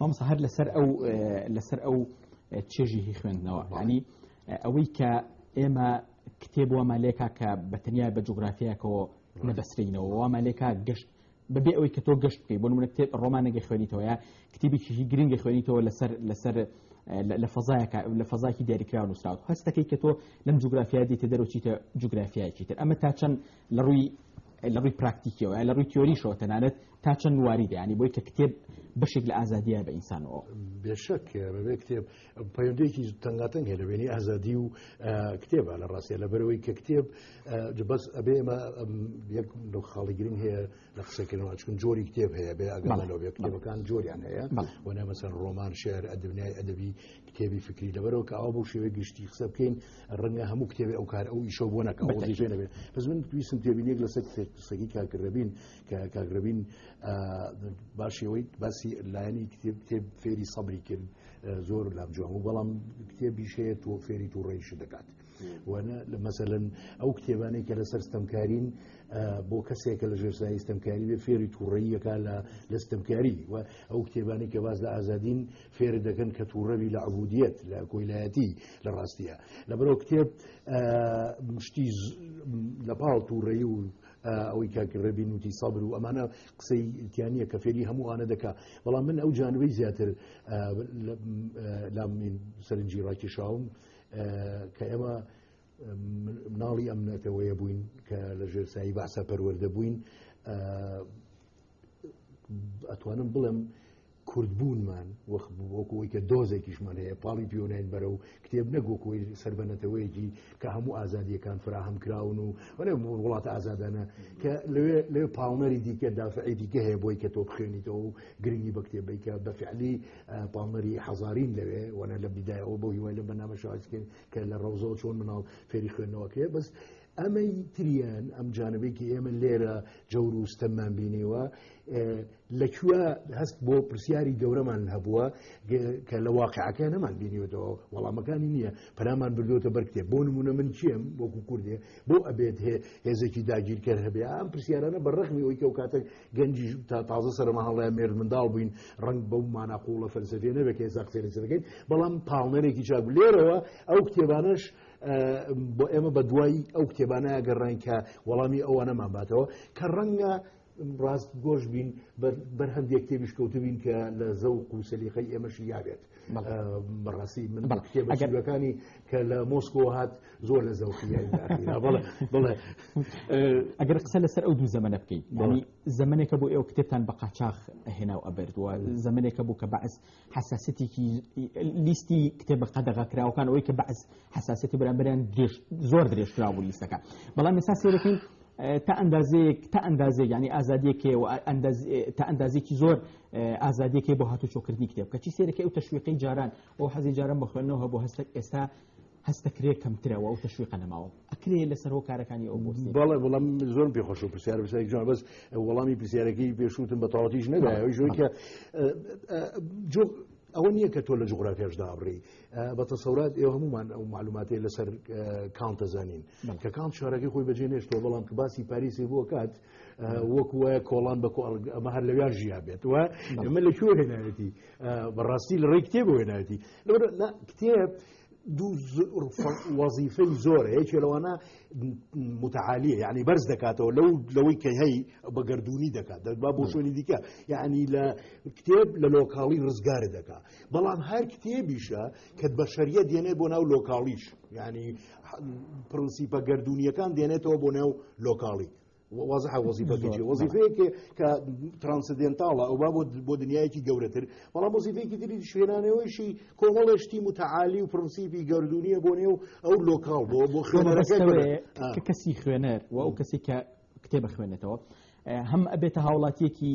مامۆستا هەر لەسەر ئەو لەسەر ئەو چێژی هی خوێندنەوە ینی ئەوەی کە ئێمە کتێب وە مالێکا کە بەتەنیا بە جوگرافیاکەەوە نەبەسرینەوە وە مالێکا گەشت بەبێ ئەوەی کە تۆ گەشت بکەیت بۆ منە کتێب ڕۆمانەگە خوێنیتەوە یا کتێبێکیی گرنگە خوێنیتەوە لەسەر لەسەر لە فەزایەکە لە فەزاکی دیاریکراوە نووسراوە هەستەکەی کە تۆ لەم جوگرافیا دیتە دەرەوەچیتە جوگرافیایکی تر ئەمە تا چەند لە ڕووی لە ڕووی پراکتیکیەوە یا لە ڕووی تیۆریشەوە تەنانەت تا چەند واریدە ینی بۆی کە کتێب بەشێک لە ئازادیە بە ئینسانەوە بێشک بەبێ کتێب پەیوەندێکی تەنگاتەنگ هەیە لەبێنی ئازادی و کتێبە لە ڕاستە لە بەرەوەی کە کتێب بەس ئەبێ ئمە یەک لەو خاڵی گرنگ هەیە لە قسەکردنەوە چون جۆری کتێب هەیە بێ ئەگەڵەوە بێ کتێبەکان جۆریان هەیە وەنە مەسەر ڕۆمان شعر ئەدبنیای ئەدەبی کتێبی فکری لەبەرەوە کە ئاوا بۆ شێوەی گشتی قسە بکەین ڕەنگە هەموو کتێبی ئەو کار ئەو ئیشە بۆ نەکەڵزیێ نەبێت بەس من تویستم تێبینێک لەسەر قسەکی کاکرەبین کە کاگربین باشەوەی باسی لایەنی کتێب کتێب فێری سەبری کرد زۆر لام جوان و بەڵام کتێبی شەیە تۆ فێری تو ڕێیش دەکات وانە لە مەسەن ئەو کتێبانەی کە لەسەر ستەمکارین بۆ کەسێکە لە ژێرسایی ستەمکاری بێ فێری تووڕەیەکە لە لە ستەمکاری و ئەو کتێبانی کە باز لە ئازادین فێرت دەکەن کە تووڕەبی لە عبودیت لە کۆیلایەتی لە ڕاستیە لەبەرەوە کتێب مشتی لە پاڵ تووڕەی و ئەوەی کاکڕێبی نوتی سابر و ئەمانە قسەی تیانە کە فێری هەمووانە دەکا بەڵام من ئەو جانبەی زیاتر لام سەرنجی ڕاکیشاوم کە ئێمە مناڵی ئەم نەتەوەیە بووین کە لە ژێرسایی باسە پەروەەردە بووین ئەتوانم بڵێم کوردبوونمان وەک وەک ئەوەی کە دۆزێکیشمان هەیە پاڵی پێوناین بەرە و کتێب نەگۆکۆی سەر بە نەتەوەیەکی کە هەموو ئازادیەکان فراهەم کراون و وەێ وڵات ئازادانە کە لەوێ لێ پاڵنەری دیکە دافعی دیکە هەیە بۆی کە تۆ بخێنیتەوە و گرنگی بە کتێبەی کە بە فعلی پاڵنەری حەزارین لەوێ وەە لە بیدایەوە بۆ هیوای لە بەنامە شازکرد کە لە ڕەوزەوە چۆن مناڵ فێری خوێندنەوەکرێ بەس ئەمەی تریان ئەم جانبێکی ئێمە لێرە جەور و ستەممان بینیوە لەکوێ هەست بۆ پرسیاری گەورەمان هەبووە کە لە واقعەکە نەمان بینیوەەوە وەڵامەکانی نییە پەرامان بردوۆتە بەرکتێ بۆ نمونە من چیم وەکو کوردێ بۆ ئەبێت هێ هێزێکی داگیرکەر هەبێ ئەم پرسیارانە بە ڕخمی ئەوی کەو کاتێک گەنجی تا تازە سەرمە هەڵەیە مێر منداڵ بووین ڕنگ بەو ماناقۆڵە فەلسفێ نەبێت کە ئێستا قسەێنەکەین بەڵام پاڵنەرێکی چاک لێرەوە ئەو کتێبانش بۆ ئێمە بە دوایی ئەو کتێبانەیە گەڕین کە وەڵامی ئەوانەمان باتەوە کە ڕەنگە ڕاست گۆش بین بەر هەندێک کتێبیش کەوتو بین کە لە زەو قوسەلیخی ئێمەشی یاێت بەڕاستی من کتێبەکانی کە لە مۆسکۆ هات زۆر لە زەوخی بڵێ ئەگەر قسە لەسەر ئەو دوو زەمەە بکەین زەمنێکە بۆ ئێوە کتێبتان بە قاچاخ هێنا و ئەبردووە زەمنێکە بوو کە بەعس حەساسەتێکی لیستی کتێبە قەدەغە کراوەکان ئەوەی کە بەعز حەساسەتی بەرامبەریان درێژ زۆر درێژ کرا بوو لیستەکە بەڵام ئێستا سێرەکەین تا ئەندازەیەک تا ئەندازێک ینی ئازادیەکێ و تا ئەندازێکی زۆر ئازادیەکەی بۆ هاتو چۆکردنی کتێب کەچی سێرەکەی و تەشویقی جاران ئەو حەزی جاران بە خوێنەوە بۆ هەستێک ئێستا هەستەکرێ کەمترە و ئەو تەشویقە نەماوە ئەکرێ لەسەر هۆکارەکانی ئەو بۆسی بەڵێ بەڵام زۆر پێ خۆش و پرسیار پرسیارێک جوان بەس وەڵامی پرسیارەکەی پێشوتم بە تەواویش نەدایەوەی ژۆی کە جۆ ئەوە نییە کە تۆ لە جغرافیاش دابڕی بە تەسەورات ئێوە هەمومان ئەو معلوماتی لەسەر کانتە زانین کە کانت شارەکەی خۆی بەجێ نێشتەوە بەڵام کە باسی پاریسی بووە کات وەک وایە کۆڵان بە ئەمە هەر لەویان ژیا بێت و ئەمە لە کوێ هێنایەتی بەڕاستی لە ڕێی کتێب هێنایەتی لەوە کتێب دوو وەزیفەی زۆرە یەکێ لەوانە متعالیە یعنی بەرز دەکاتەوە لەو لەوەی کە هەی بە گردردونی دەکات دەبا بۆ شوێنی دیکە یعنی لە کتێب لە لۆکاڵی ڕزگار دەکات بەڵام هەر کتێبیشە کە بە شەریە دێنێ بۆ ناو لۆکاڵیش یعنی پرنسیپە گردردونیەکان دێنێتەوە بۆ ناو لۆکاڵی وازحە وەزیفە زۆر، کێ بەڵێ. وەزیفەیەکێ کە ترانسدێنتاڵە ئەو با بۆ بۆ دنیایەکی گەورەتر بەڵام وەزیفەیەکی تری شوێنانەوەیشی کۆمەڵێ شتی متعالی و پرنسیپی گەردوونیە بۆ نێو ئەو لۆکاڵ بۆ بۆ خوێنەرەکە گەورە. بەبەستەوەیە آ. کە کەسی خوێنەر و ئەو کەسێک کە کتێب ئەخوێنێتەوە ئە، هەم ئەبێتە هاوڵاتیەکی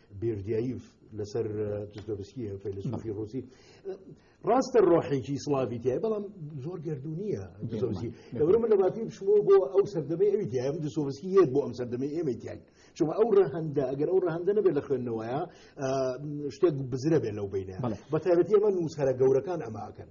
بیردیایف لەسەر دستۆبسکی فەیلسوفی ڕوسی ڕاستە ڕۆحێکی سلاوی تای بەڵام زۆر گردونیە دستۆبسکی لەبرە من لەباتی بشمەوە بۆ ئەو سەردەمەی ئەوی تیایم دستۆبسکی یەت بۆ ئەم سەردەمەی ئێمە تیان چونکە ئەو ڕەهندە ئەگەر ئەو ڕەهندە نەبێت لە خوێندنەوەیە شتێک بزرە بێت لەو بینە بە تایبەتی ئەمە نووسەرە گەورەکان ئەماکەن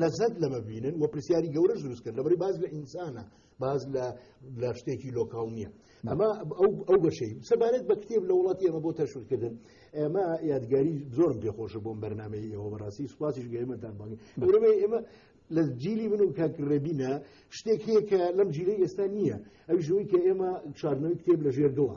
لەزەت لەمە بینن و پرسیاری گەورەش دروست کرد لەبری باز لە ئینسانە باز لە شتێکی لۆکاڵ نییە ئەمە ئەو بەشەی سەبارەت بە کتێب لە وڵاتی ئەمە بۆ تەشورکردن ئێمە یادگاری زۆرم پێخۆش بۆم بەرنمەی ئێوە بەڕاستی سوپاسیش گەێمەتان بەڵی بەرەمەی ئێمە لە جیلی من و کاکڕێبینە شتێک هەیە کە لەم جیلی ئێستا نییە ئەو ژووی کە ئێمە چارنەوەی کتێب لە ژێر دڵە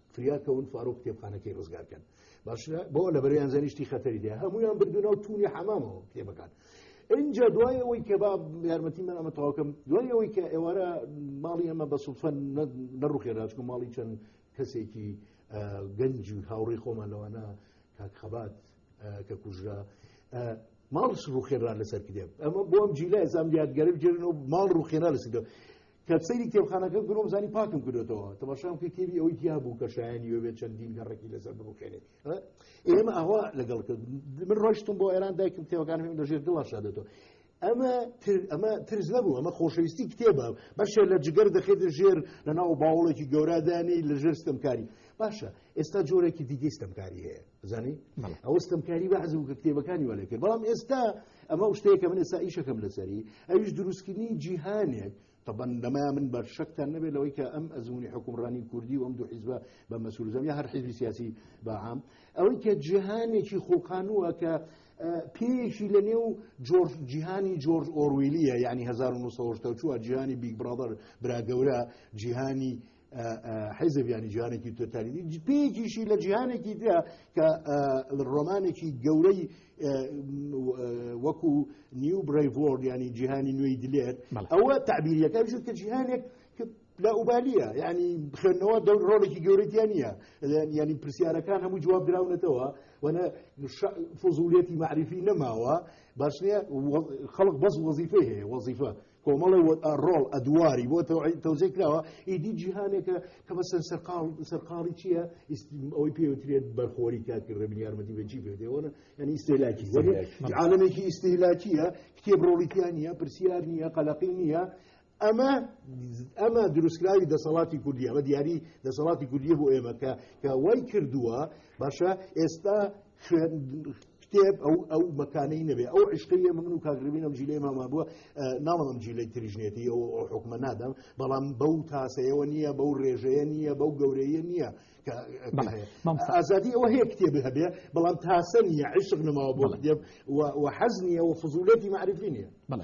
فریاکەون فارۆ کتێبخانەکەی ڕزگار کەن باش بۆ لە بەریان زەنیشتی خەتەری دێ هەمویان بردونا و تونی حەمامەوە کتێبەکان اینجا دوای ئەوەی کە با یارمەتی من ئەمە تاواکەم دوای ئەوەی کە ئێوارە ماڵی ئەمە بە سوفە نەڕوخێراچکە ماڵی چەند کەسێکی گەنج و هاوڕێ خۆمان لەوانە کاک خەبات کە کوژرا ماڵ ڕوخێرا لەسەر کتێب ئەمە بۆم جیلا ئێزام یادگەرە بجێنەوە ماڵ ڕوخێرا لەسەر کە سەیری کتێبخانەکە کردم زانی پاکم کردێتەوە تەماشام کرد کتێبی ئەوەی تیا بوو کە شایانی وێ چەندین گەڕێکی لەسەر بڕوخێنێ ئێمە ئاوا لەگەڵ کرد من ڕۆشتم بۆ ئێران دایکم کتێبەکان هێم لەژێر دڵا شادێتەوە ئەمە ئەمە ترس نەبوو ئەمە خۆشەویستی کتێبە بەشێ لە جگەر دەخێتە ژێر لە ناو باوڵێکی گەورادانی لە ژێرستم کاری باشە ئێستا جۆرێکی دیگەی ستەمکاری هەیە بزانی ئەوە ستەمکاری بە عزم کە کتێبەکانی وەلێ کرد بەڵام ئێستا ئەمە شتەیەکە من ئێستا ئیشەکەم لەسەری ئەویش دروستکردنی جیهانێک طبعا لەما من بەر شەکتان نەبێت لەوەی کە ئەم ئەزمموی حکومڕانی کوردی و ئەم دوو حیزبە بە مەسوولزم یا هەر حیزبی سیاسی بەعام ئەوەی کە جیهانێکی خۆقانووە کە پێیەکی لە نێو جۆرج جیهانی جۆرج ئۆرویلیە یعنی 1970 جیهانی بیگ برادر براگەورە جیهانی حیزب ینی جیانێکی تۆتالیدی پێکیشی لە جیهانێکی دا کە ڕۆمانێکی گەورەی وەکو نیو برایڤۆرد ینی جیهانی نوێی دلێت ئەوە تعبیریەکە بژ کە جیهانێک لا ئوبالیە ینی بخێنەوە دەور ڕۆڵێکی گەورەتیان نییە ینی پرسیارەکان هەموو جواب دراونەتەوە وەە فزولێتی معریفی نەماوە باش نیە خەڵک بەس وەزیفەی هەیە وەزیفە کۆمەڵە و ڕۆڵ ئەدواری بۆ تەوزێ کراوە ئیدی جیهانێکە کە بە سەر سەرقاڵ سەرقاڵی چییە ئەوەی پێوترێت بەرخۆری کاتکرد بن یارمەتی بەجی پێدەوەە یعنی ئیسلاکی عاالمێکی ئیسلاکیە کتێب ڕۆڵیتیان نیە پرسیار نییە قەلقی نییە ئەمە ئەمە دروستکراوی دەسەڵاتی کوردیە بە دیاری دەسەڵاتی کوردیە بۆ ئێمەکە کە وای کردووە باشە ئێستا خوێن کتێب ئەو ئەو مەکانەی نەبێ ئەو عشقی ئێمە من و کاگربین ئەم جیلەی ماما بووە ناڵم جیلەی تریژنێتی ئەو حکومە نادەم بەڵام بەو تاسەیەوە نییە بەو ڕێژەیە نییە بەو گەورەیە نییە ئازادی ئەوە هەیە کتێب هەبێ بەڵام تاسە نیە عشق نەماوە بۆ دێب و حەز نیە و فزولەتی معرفی نیە بڵێ